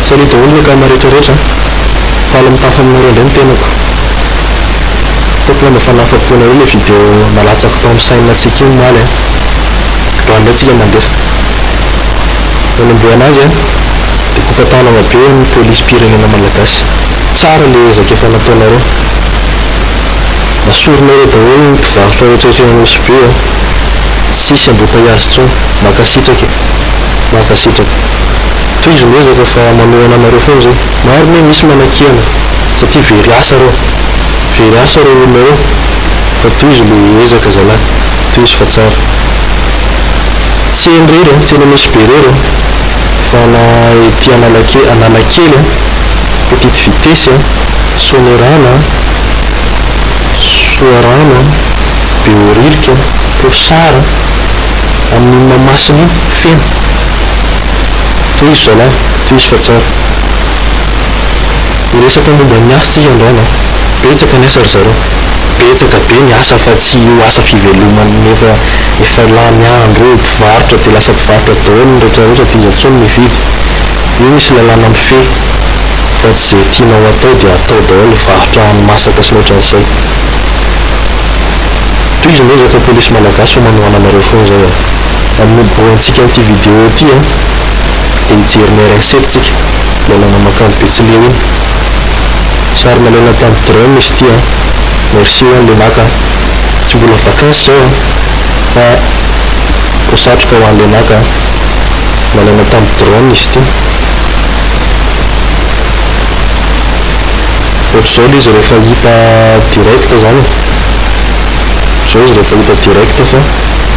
Salut daholo ny akama rehetra rehetra a! Faly mitafa aminareo indray ny tenako. Tompony a mba fa nahafapo nareo le video nalatsako tao am chaine tsika io omaly a! Raha indray tsika mandefa nanombohana azy a de kopatanana be ny police pirenena malagasy. Tsara le ezaka efa nataonareo. Asorinareo daholo ny mpivarotra rehetra ety anosibe a! Tsisy ambotaiazy tsony. Mankasitraka e! Mankasitraka. Tohizo ny ezaka fa manohana anareo foana izay. Maro ne misy manakihana satria very asa reo. Very asa reo olona reo. Fa tohizo le ezaka zalahy. Tohizo fa tsara. Tsy eny rery an, tsy eny Nosy be rery an, fa na ety Analake, Analakely an, Petite Vitesse an, Soanierana an, Soarano an, Behoririka an, Posara an. amin'ny Mahamasina feno. Tohizo zalahy, tohizo fa tsara. Hiresaka momba ny asa tsika androany an! Betsaka ny asa ry zareo. Betsaka be ny asa fa tsy io asa fivelomany nefa efa lany andro eo mpivarotra dia lasa mpivarotra daholo ny rehetra rehetra dia iza intsony no hividy? Io misy lalàna mifehy fa tsy izay tianao atao dia atao daholo ny varotra hani-masaka sy ny ohatran'izay. Tohizo ny ezaka polisy malagasy fa manohana anareo foana zao a! Amin'ny niboahantsika an'ity vidéo ity a! Dia hijery ny RN sept tsika, ilay nanamakandro betsileo iny. Sary nalaina tamin'ny drone izy ity a! Merci ho an'ilay naka a! Tsy mbola vacances zao a! Fa ho satroka ho an'ilay naka a! Nalaina tamin'ny drone izy ity. Ohatr'izao ilay izy rehefa hita direct izany e. Ohatr'izao izy rehefa hita direct fa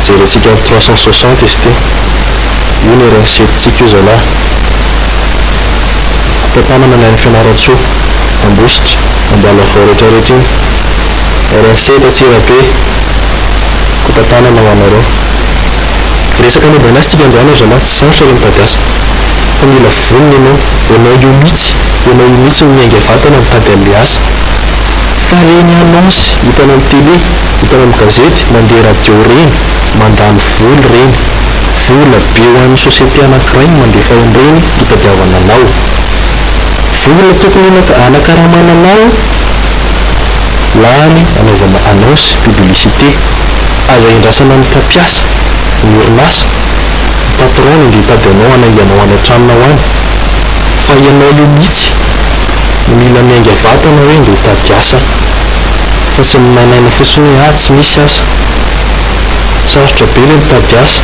jerentsika amin'ny trois cent soixante izy ity. Io no erreur setintsika io zalahy. Kopa tanana ny any Fianarantsoa, Ambositra, Ambalavao retraretra iny. Erreur sept Antsirabe. Kopa tanana ho anareo. Resaka momba ny asa tsika androany ry zalahy, tsy sarotra ilay mitady asa. fa mila vonona ianao, ianao io mitsy, ianao io mitsy no miainga vatana mitady anle asa fa reny annonce hitanao am tele, hitanao am gazety, mandeha radio reny, mandany voly reny, vola be ho an'ny société anakiray no mandefa anreny hitadiavana anao, vola tokony hanakaramana anao lany anaovana annonce, publicité, aza endrasana amin'ny mpampiasa, ny orinasa. ny patron no ndeha hitady anao hanainga anao any an-tranonao any fa ianao io mihitsy no mila miainga vatana hoe ndeha hitady asa fa tsy ny manaina fotsiny hoe ah tsy misy asa. Sarotra be ilay mitady asa.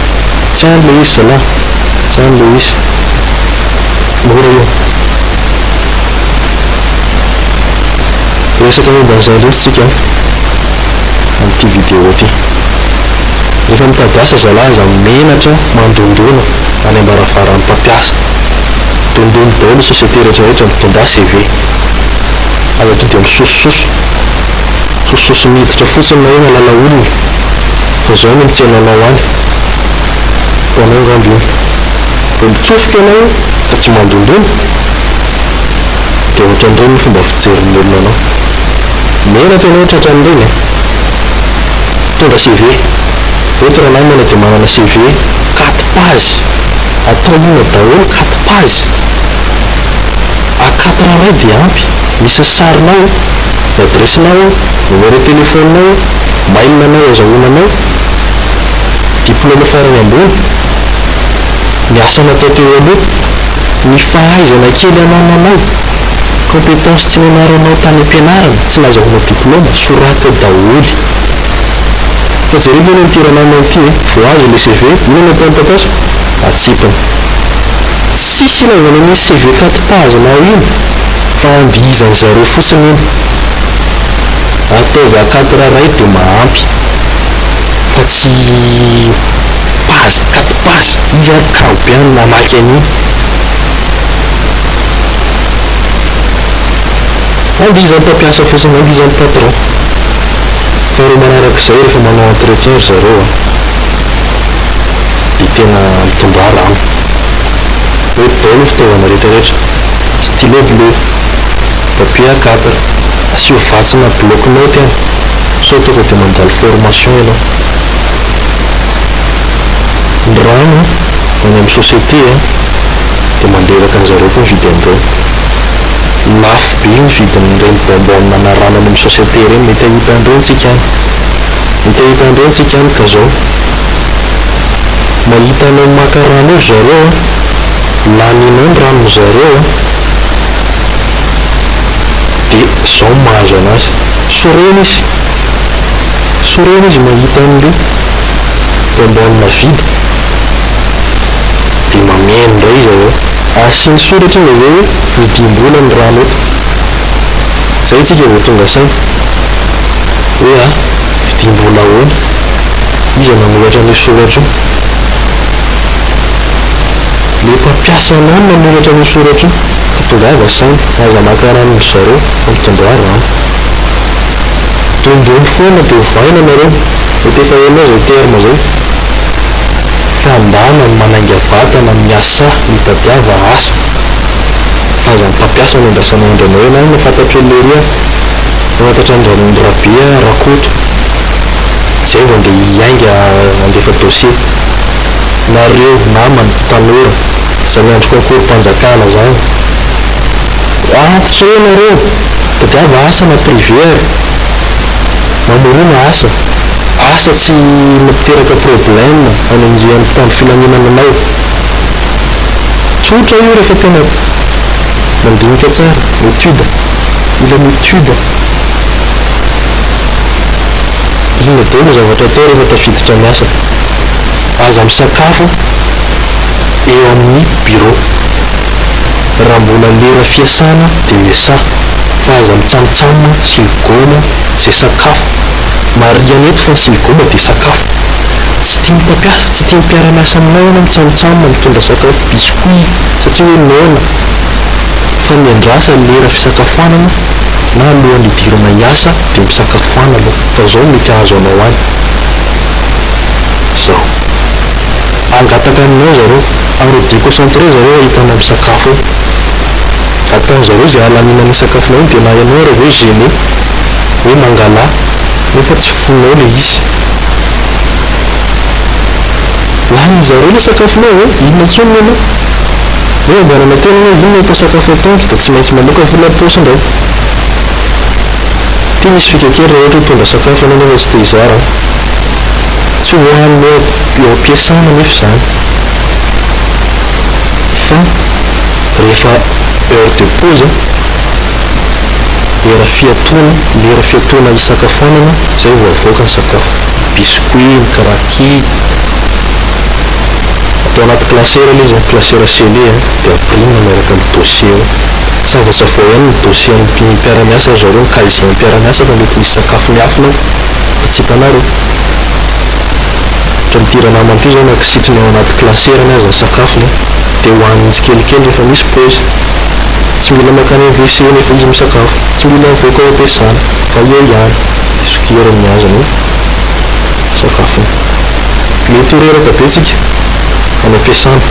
Tsy any ilay izy zalah, tsy any ilay izy. Mora io. Resaka momba an'izany loatra isika amin'ity vidéo ity. Rehefa mitady asa zalahy aza menatra mandondona any ambaravaran'ny mpampiasa. Dondony daholo ny société rehetrarehetra mitondrà CV. Aza tonga dia misosososo. Sosososo miditra fotsiny na hoe mahalala olona fa zao no mitsena anao any. Ho anao angamba iny. Vao mitsofoka ianao ka tsy mandondona dia ohatran'ireny ny fomba fijerin'ny olona anao. Menatra ianao tratran'ireny e. Mitondra CV. Eto Ranahy Maina dia manana CV quatre page. Atao inona daholo quatre page? A quatre iray dia ampy. Misy ny sarinao, ny adiresinao, numéro téléphone-nao, mail anao azahoana anao, diplôme farany ambony, ny asa natao teo aloha, ny fahaizana kely anananao. Compétence tsy nianaranao tany am-pianarana, tsy nazahoanao diplôma, soraty ao daholo. Fa jereo ve anao ty rananao ity e, vao azo ilay CV, inona no ataon'i Tatasy? Atsipiny. Tsisy ilaivana an'iny CV kati-pahazanao iny fa andihizan'ny zareo fotsiny iny. Ataovy akatira ray dia mahampy fa tsy pazy, kati-pazy. Iza ary kamo be any namaky an'iny. Andihizan'ny mpampiasa fotsiny, andihizan'ny patron. Faharoa manaraka izay rehefa manao entretien ry zareo an, dia tena mitondraha rano. Mety daholo ny fitaovana rehetrarehetra, stylo bleu, papier a quatre, asio vatsy na bloc note an, sao tonga dia mandalo formation ianao. Ny rano any amin'ny société an. dia mandreraka an'i zareo koa ny vidy an'ireny. Lafo be ny vidin'ireny bonbon nanarana any amin'ny société ireny, mety hahita an'ireny tsika any. Mety hahita an'ireny tsika any ka zao. Mahita anao maka rano eo ry zareo a, laninao ny ranon'i zareo a, dia zao ny mahazo anazy. Sorena izy, sorena izy mahita an'ilay bonbon vidy. Dia mameno indray izy avy eo. Asiany soratra izy avy eo hoe midiam-bola ny rano eto. Izay isika vao tonga saina. Hoe a, vidiam-bola ahoana? Iza nanoratra an'io soratra io? Ilay mpampiasa anao no nanoratra an'io soratra io. Ka tongava saina. Aza maka rano ry zareo. Ampitondraho rano. Dombony foana dia ovaina nareo. Mety efa henao izay terme izay. Fandàna ny manainga vatana miasà mitadiava asa fa aza mpampiasa no andrasana aindra anao ialahy no fantatro an'i Lery an! Fantatra an'i Ranony Rabe an! Rakoto! Zay vao ndeha hiainga handefa dossier! Nareo namana tanora zay miandry concours mpanjakana zany antitra eo nareo! Tadiava asa na privé ary. Mamorona asa. Asa tsy mampiteraka problème hanenjehan'ny mpitandro filaminana anao. Tsotra io rehefa tena mandinika tsara. Étude. Mila mi-étude. Inona daholo ny zavatra atao rehefa tafiditra ny asa. Aza misakafo eo amin'ny bureau. Raha mbola lera fiasana dia miasaha fa aza mitsamotsamona sy migaoma izay sakafo. Marihana eto fa ny sy migaoma dia sakafo. Tsy tian'ny mpampiasa, tsy tian'ny mpiara-miasa aminao ianao mitsamotsamona mitondra sakafo biscuit satria hoe noana fa miandrasa lera fisakafoanana na alohan'ny hidirana hiasa dia misakafoana aloha fa izao mety hahazo anao any izao. Hangataka aminao zareo. Ary ho deconcentré zareo hahita anao misakafo eo. Ataony zareo izay hahalaniana ny sakafonao iny dia na ianao ary ve gêné hoe mangalà nefa tsy fonao ilay izy. Lanin'ny zareo ilay sakafonao ve? Inona intsony ny anao? Hoe ianganana tena hoe inona atao sakafo atoandro dia tsy maintsy mamoaka vola am-paosy indray. Ity misy fika kely raha ohatra hoe hitondra sakafo ianao nefa tsy te hizara an. Tsy ho an'ny eo am-piasana anefa izany fa rehefa heure de pause, lera fiatoana, lera fiatoana hisakafoanana izay vao avoaka ny sakafo. Ny biscuits, ny cracky, atao anaty classeur ilay izy, classeur scellé dia ampirina miaraka amin'ny dossier ao. Sava-savoay ihany ny dossier an'ny mpiara-miasa ry zareo, ny casier an'ny mpiara-miasa fa mety misy sakafo miafina ao. Fa tsy hitanareo? Ohatran'ity ranamana ity izao na kisitriny ao anaty glacerany aza ny sakafony an! Dia hohaniny tsikelikely rehefa misy paozy. Tsy mila mankany amin'ny WC nefa izy misakafo. Tsy mila mivoaka ao am-piasana fa eo ihany dia sokeriny ny azy ny sakafony. Mety ho reraka be tsika any am-piasana.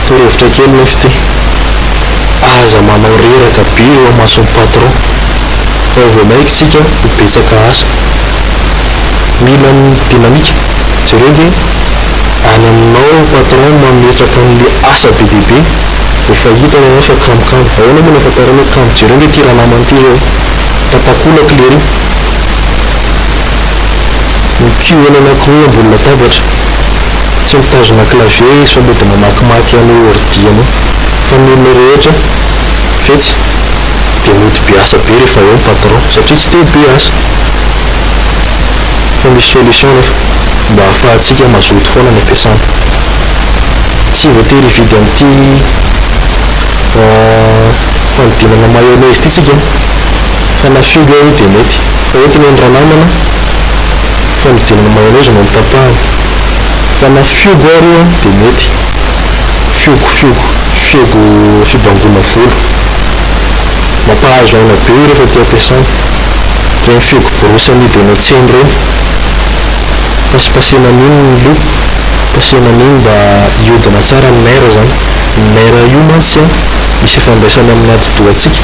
Torohevitra kely nefa ity, aza manao reraka be eo amason'ny patron. Vao vao maiky tsika ho betsaka asa. Mila ny dynamique. Jereo nge any aminao patron mametraka anle asa be dia be. Efa hitany ianao fa kamokamo. Ahoana moa no ahafantarany hoe kamo. Jereo nge ty ranamana ty zao. Tapakolaka lery. Ny cul eny anakoroa ambony latabatra. Tsy mitazona clavier izy fa mody mamakimaky any ordi anao. Fa ny olona rehetra ve tsy. dia mody be asa be rehefa eo ny patron satria tsy te be asa fa misy solution nefa mba hahafahantsika mazoto foana ny ampiasana tsy voatery hividy amin'ity fanodinana mayonnaise ity tsika an fa na fihogo eo dia mety fa eto ny an'ny ranamana fanodinana mayonnaise no notapahana fa na fihogo ary io an dia mety Fiogo fiogo fiogo fibangoana volo. Mampahazo aina be io rehefa te ampiasaina. Ireny fiogo borosy amidy eny an-tsena ireny. Pasipasihina an'iny ny loha, pasihina an'iny mba hiodina tsara ny nerf izany. Ny nerf io mantsy misy ifandraisany amin'ny atidohantsika.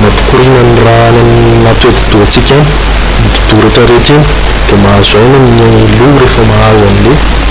Mampikoriana ny ra any anaty atidohantsika any. Iny atidoha rehetra rehetra iny dia mahazo aina ny loha rehefa mahazo an'ilay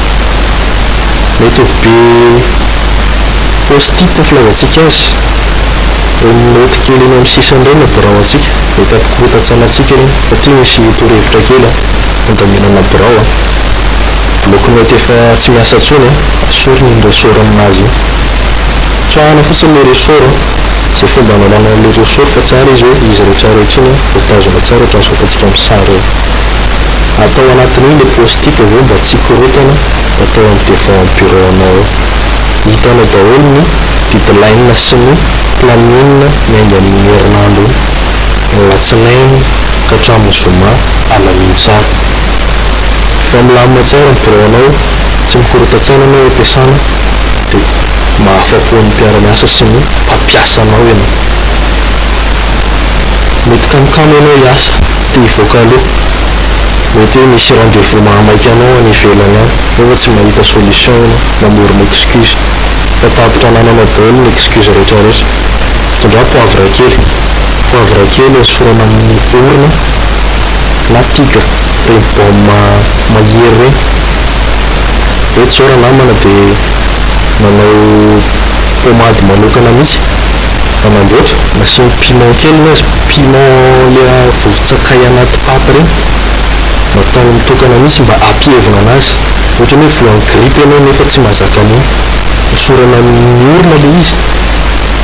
Mety ho be post-it filazantsika azy, ireny naoty kely eny amin'ny sisiny ireny no birao antsika, mety hampikorontan-tsaina antsika ireny fa ity misy torohevitra kely an, handaminana birao an, bloc note efa tsy miasa intsony an, asorina iny ressort aminazy iny, tsahana fotsiny ilay ressort an, izay fomba hanalana an'ilay ressort fa tsara izy hoe izy rehetra rehetra iny an, voatazona tsara ohatran'izao ataontsika amin'ny sary eo. Atao anatiny ao le post-it aveo mba tsy hikorontana atao am devant am bureau anao ao. Hitanao daholo ny deadline sy ny planning miainga am ny herinandro io. Alatsinainy ka hatramin zoma, alamino tsara. Fa milamina tsara ny birao anao, tsy mikorontan-tsaina anao ampiasana de mahafapo ny mpiara-miasa sy ny mpampiasa anao ianao. Mety kamokamo ianao hiasa. Te hivoaka aloha. Mety hoe misy rendez-vous mahamaika anao any ivelany any nefa tsy mahita solution ianao, mamorona excuse. Fa tapitra anananao daholo ny excuse rehetra rehetra. Tondraho poivre kely. Poivre kely esorana amin'ny orona na tigre, ireny baume mahery ireny. Hoe tsy zao ranamana dia manao pommade manokana mihitsy. fa mandraotra nasiany piment kely ny azy, piment le vovo-tsakay anaty paty reny, nataony mitokana mihitsy mba hampievina anazy, ohatrany hoe voan'ny gripa ianao nefa tsy mazaka an'iny, esorana amin'ny orona le izy,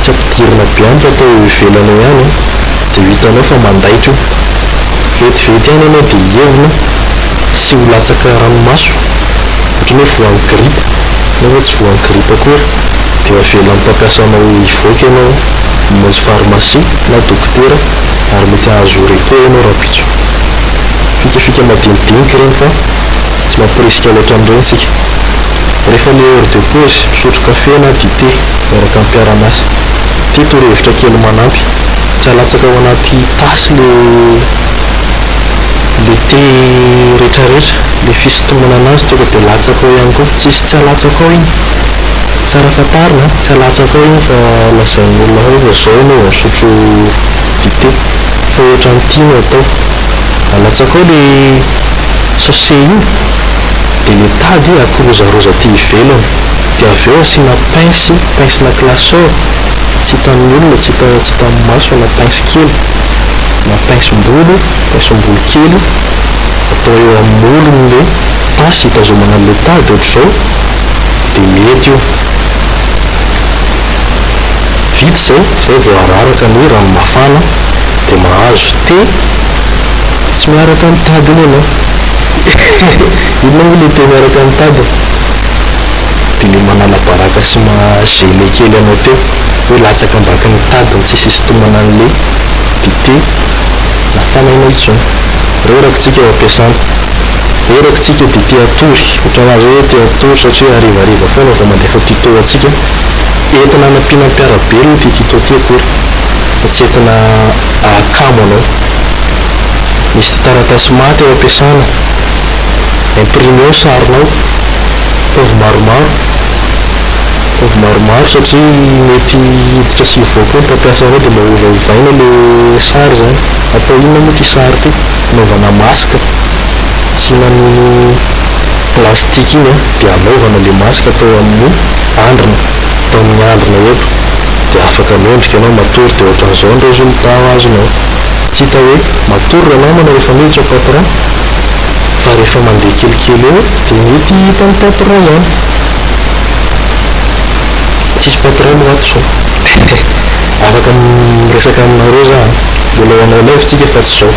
tsy ampidirina be ampy atao eo ivelany eo ihany an, de ho hitanao fa mandaitra io, vetivety ihany ianao de hievina sy ho latsaka ranomaso, ohatrany hoe voan'ny gripa nefa tsy voan'ny gripa akory. dia avela amin'ny mpampiasa anao hivoaka ianao mamonjy farmasia na dokotera ary mety hahazo repos ianao rahampitso. Fikafika madinidinika ireny fa tsy mampirisika loatra an'ireny isika. Rehefa ilay heure de pause, misotro kafe na dite miaraka amin'ny mpiara-miasa. Ity torohevitra kely manampy, tsy halatsaka ao anaty tasy ilay ilay thé rehetrarehetra, ilay fisintomana an'azy tonga dia latsaka ao ihany koa. Tsisy tsy halatsaka ao iny. Tsara fantarina an! Tsy alatsako ao io fa lazain'ny olona hoe fa zao enao vao misotro dite fa ohatran'ny tia no atao. Alatsako ao le sachet io de le tady akorozaroza aty ivelany de avy eo asiana pince, pince na classeur tsy hitan'ny olona, tsy hita, tsy hitan'ny maso fa na pince kely na pince-bolo, pince-bolo kely atao eo amin'ny molony le tasy hitazomana an'le tady ohatr'izao. dia mety io. Vita izay, izay vao araraka ny hoe rano mafana dia mahazo thé tsy miaraka amin'ny tadiny ianao. Inona moa ilay thé miaraka amin'ny tadiny? Dia ilay manala baraka sy maha gêner kely anao teo hoe latsaka ambakin'ny tadiny tsy hisintomana an'ilay dite nafanaina intsony. Reraka isika eo am-piasana. Ereko tsika dia te hatory, otrany azy hoe te hatory satria harivariva foana vao mandefa tuto ho antsika, entina hanampiana mpiara-belona ity tuto ity akory fa tsy entina ahakamo anao. Misy taratasy maty ao ampiasana, imprimeo sarinao, ataovy maromaro, ataovy maromaro satria mety hiditra sy hivoaka eo ny mpampiasa anao dia mba ovaovaina ilay sary izany, atao inona moa ity sary ity? Anaovana masque tsy nanono plastique iny an dia anaovana le masque tao amin'ny andrina tao amin'ny andrina eto dia afaka mendrika ianao matory dia ohatran'izao ny resultat ho azonao tsy hita hoe matory ry namana rehefa miditra patron fa rehefa mandeha kelikely eo dia mety hita ny patron ihany tsisy patron moa ato sao afaka miresaka aminareo za an. Mbola ho anao live tsika fa tsy zao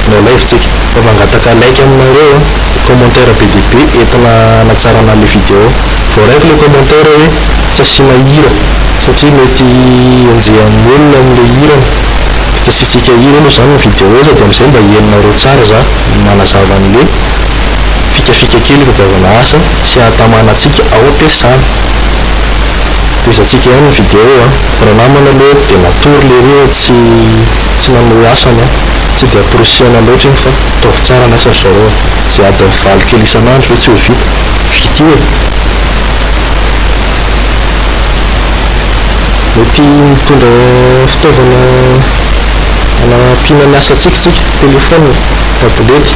no live tsika fa mangataka like aminareo a! Commentaire be dia be entina hanatsarana le video. Voaraiko le commentaire hoe tsy asiana hira satria mety enjehan'ny olona amle hirany de tsy asiantsika hira aloha zany ny video sady amzay mba henonareo tsara za manazava anle fikafika kely itadiavana asa sy ahatamana antsika ao am-piasana. Tohizantsika ihany ny video a! Ranamana aloha dia natory lery hoe tsy tsy nanohy asa ny ahy. Tsy dia amporisihana loatra iny fa ataovy tsara ny asa ry zareo a! Izay adiny valo kely isan'andro ve tsy ho vita? Vita io e! Mety mitondra fitaovana hanampiana ny asantsika isika, telefaonina, tablety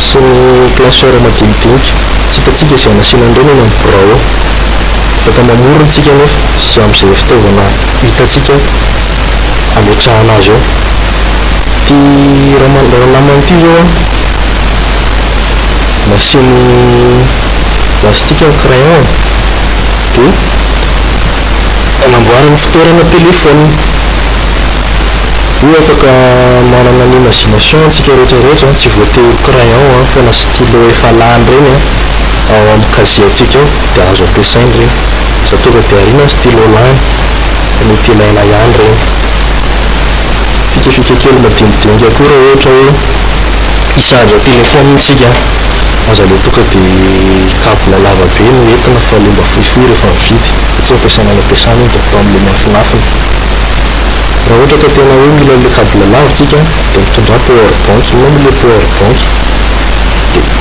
sy ny classeur madinidinika. Tsy hitantsika izay hanasiana an'ireny eny amin'ny birao eo. Eto amamorony-tsika anefa sy amin'izay fitaovana hitantsika hametrahana azy eo. Ity ranamana ity izao an, nasiany lastika ny crayon-ny dia anamboarany fitoerana telefaonina. Io afaka manana ny imagination-tsika rehetra rehetra an, tsy voatery ho crayon an fa na stylo efa lany ireny an ao amin'ny casier-tsika ao. dia azo ampiasaina ireny. Aza tonga dia ariana ny stylo lany fa mety ilaina ihany ireny. Fikafika kely madinidinika koa raha ohatra hoe hi-charge téléphone isika, aza ilay tonga dia kavina lava be no entina fa ilay mba fohifohy rehefa mividy satria ampiasana any am-piasana iny dia atao amin'ilay miafinafina. Raha ohatra ka tena hoe mila ilay cable lava isika dia mitondrà power bank, inona moa ilay power bank? Dia.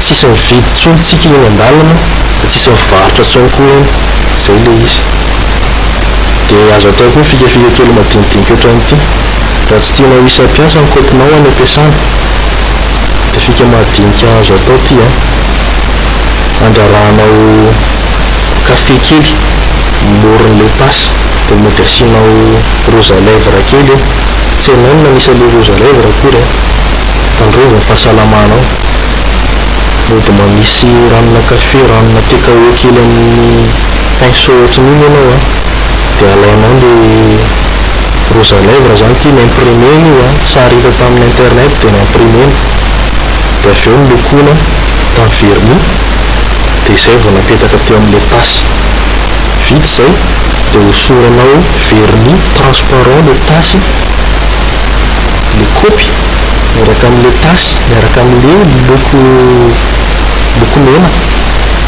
tsisy mividy tsony tsika eny andalana de tsisy mivarotra tsony koa eny zay le izy de azo atao koa ny fikafika kely madinidinika otran'ity raha tsy tianao hisy hampiasa ny kopinao any ampiasana de fika mahadinika azo atao ty a andrarahanao kafe kely moron'le tasy de mody asianao rouge à lèvres kely eo tsy hainao ny nanisa le rouge à lèvres akory a. Tandrova fahasalamanao. Mody mamisy ranona kafe, ranona thé kaoé kely amin'ny pinceau ohatran'io ny anao a. Dia alainao ilay rouge à lèvres izany ity ni-imprimer-na io a, sary hita tamin'ny internet dia ni-imprimer-na. Dia avy eo nolokoina tamin'ny vernis dia izay vao napetaka teo amin'ilay tasy. Vita izay dia hosoranao vernis transparent ilay tasy. le kopy miaraka amle tasy miaraka amle loko loko mena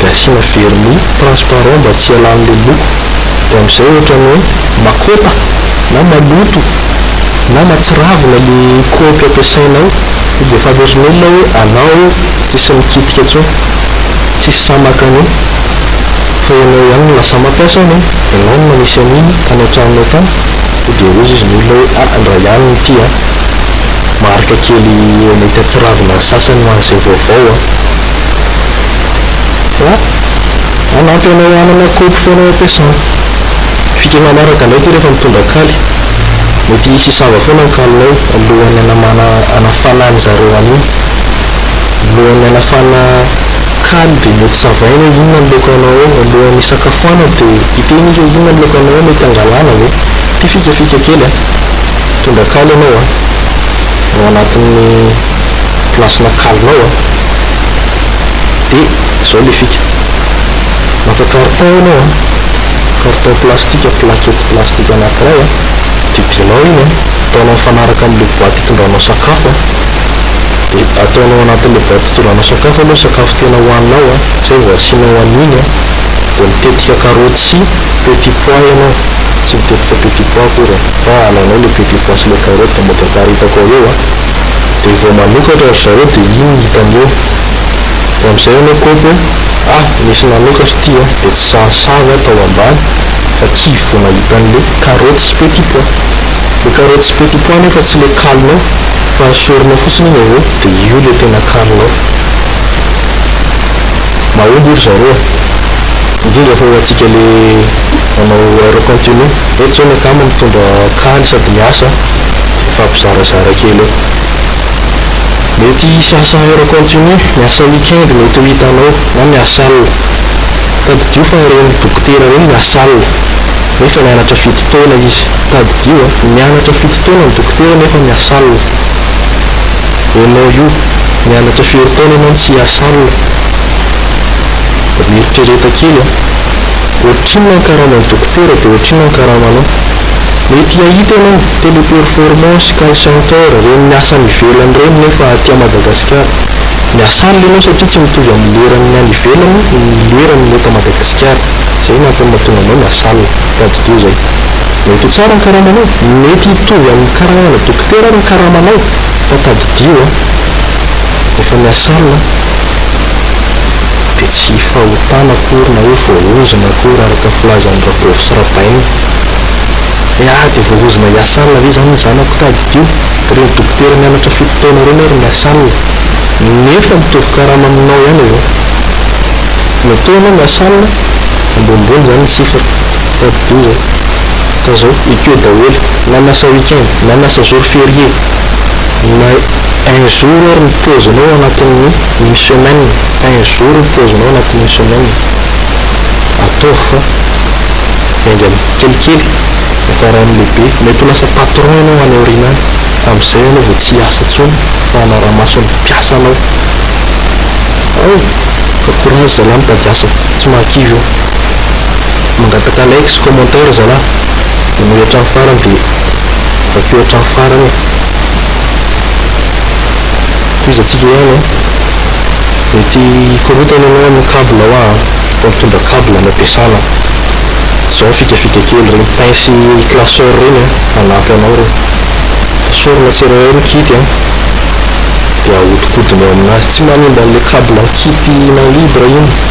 de asiana vernis transparent mba tsy hialanle loko de amzay ohatra ny hoe makôta na maloto na matsiravina le kopy ampiasainao sao dia efa averina ela hoe anao io tsisy mikitika tsony tsisy sahy maka anio fa ianao ihany no lasa mampiasa anio ianao no manisy aniny tany antranonao tany Sao dia hoy izy ny olona hoe ah indray ihany ity an! Marika kely mety hatsiravina ny sasany ho an'izay vaovao an! An! Hanampy anao hanana kaopy foana ampiasana. Fika manaraka indray ity rehefa mitondra kaly. Mety hisy hisava foana ny kalinao alohan'ny hanamana hanafana an'izareo anio. Alohan'ny hanafana. Kaly dia mety savaina hoe inona ny laoka anao alohan'ny hisakafoanana dia hiteny izy hoe inona ny laoka anao mety hangalana ve? Ity fikafika kely a! Mitondra kaly ianao a! Ao anatin'ny place-na kalinao a! Dia izao ilay fika, maka carton ianao a, carton plastika, plaquette plastika anankiray a, didianao iny a, ataonao mifanaraka amin'ilay boaty hitondranao sakafo a! dia ataonao anatin'ilay baoritra fitondrana sakafo aloha ny sakafo tena hohaninao an, izay vao asianao an'iny an, dia mitetika karaoty sy petit pois ianao, tsy mitetika petit pois akory an, fa alainao ilay petit pois sy ilay karaoty dia mety aparitako ao eo an, dia vao manokatra ry zareo dia iny no hitany eo, dia amin'izay ianao kôpy hoe ah nisy nanokatra ity an, dia tsy sahasaha ve atao ambany fa kivy vao nahita an'ilay karaoty sy petit pois. Le carrot tsy petit pois nefa tsy le kalinao fa esorina fotsiny iny avy eo de io le tena kalinao. Mahomby ry zareo a! Indrindra fa ho antsika le manao heure continue. Eto zao ny akama mitondra kaly sady miasa a! Mifampizarazara kely eo. Mety hisy asa heure continue, miasa week-end mety ho hitanao na miasa alina. Tadidio fa ireny dokotera ireny miasa alina nefa nianatra fito taona izy. Tadidio a! Nianatra fito taona ny dokotera nefa miasa alina. Enao io nianatra firy taona enao no tsy hiasa alina? Mba mieritrereta kely a! Ohatrinona ny karaman'ny dokotera dia ohatrinona ny karamanao. Mety hahita enao Teleperformance, Call Center, ireny miasa any ivelany ireny nefa aty Madagasikara miasa alina enao satria tsy mitovy amin'ny leran'ny any ivelany ny leran'ny eto Madagasikara. Izay no antony mahatonga anao miasa alina. Tadidio izay. Mety ho tsara ny karamanao, mety hitovy amin'ny karamana dokotera ary ny karamanao fa tadidio an! Efa miasa alina an! Dia tsy fahotana akory na hoe voaozona akory araka filazan'i Rabovo sy Rabaina. Hoe ah dia voaozona hiasa alina ve izany ny zanako tadidio? Dia ireny dokotera nianatra fito taona ireny ary miasa alina nefa mitovy karama aminao ihany avy eo. Mety hoe ianao miasa alina, ambonimbony izany ny chiffre. Top douze zao ka zao ekeo daholo na lasa week-end na lasa jour ferie na un jour ary ny pause-nao anatin'ny une semaine un jour ny pause-nao anatin'ny une semaine ataovy fa miainga kelikely hiafaran'ny lehibe mety ho lasa patron ianao any aoriana any amin'izay ianao vao tsy hiasa intsony fa hanara-mason'ny mpiasanao ao ka courage zalahy mitady asa tsy mahakivy eo. Mangataka like sy commentaire zalah. Manohy hatramin'ny farany dia vakio hatramin'ny farany e. Tohizantsika ihany an. Mety hikorontana ianao amin'ny cable ao an. Fa mitondra cable no ampiasana. Zao ny fikafika kely. Ireny pince classeur ireny an, hanampy anao ireny. Esorina tsirairay ny kit an. Dia ahodikodinao aminazy. Tsy manimba an'ilay cable kit-na libre iny.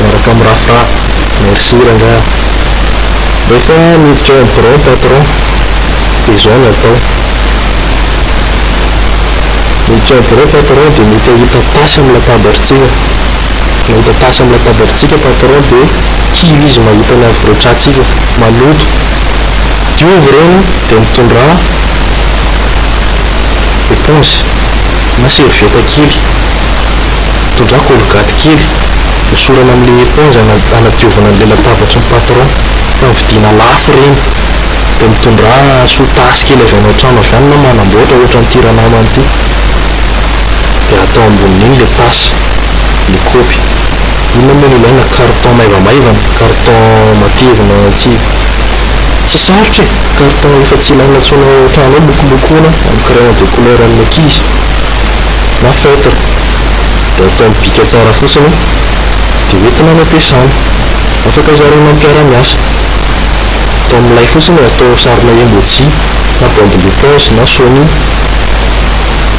miaraka mirafirafy. Merci rangaha. Rehefa miditra eo amin'ny birao ny patron dia izao no atao. Miditra eo amin'ny birao ny patron dia mety hahita tasy amin'ny latabarintsika. Mahita tasy amin'ny latabarintsika ny patron dia kivy izy mahita ny havoretrantsika maloto. Diovy ireny dia mitondrà éponge na serviette kely. Tondrako olgaty kely, hosorana amin'ilay éponge hanadiovana an'ilay latabatry ny patron, fa ny vidiana lafo ireny. Dia mitondrà sotasy kely avy any an-trano avy any na manamboatra ohatran'ity ranamana ity. Dia atao ambonin'iny ilay tasy, ilay kaopy. Inona moa no ilaina? Carton maivamaivana, carton matevina tsy tsy sarotra e! Carton efa tsy ilaina intsony ao an-trano ao, lokolokona amin'ny crayon de couleur an'ny ankizy na feutre. dia atao mibika tsara fotsiny dia hoentina any am-piasana. Afaka zaraina amin'ny mpiara-miasa. Atao milay fotsiny atao sarina emoji na bombe d'éponge na sony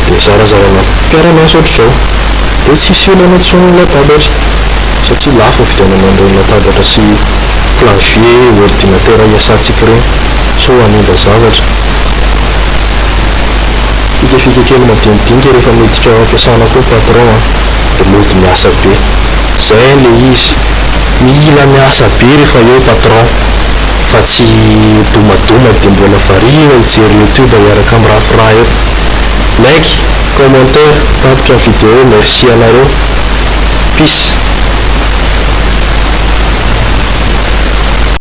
dia zarazaraina amin'ny mpiara-miasa ohatr'izao. Dia tsy hisy olana intsony ny latabatra satria lafo ny vidianana an'ireny latabatra sy clavier ordinatera iasantsika ireny sao hanimba zavatra. Fikafika kely madinidinika rehefa miditra ao ampiasana koa patron a! De mody miasa be! Zay anie le izy! Mila miasa be rehefa eo patron fa tsy domadoma de mbola variana hijery youtube hiaraka am rafra eo! Like, commentaire, tapitra ny video merci anareo! Peace!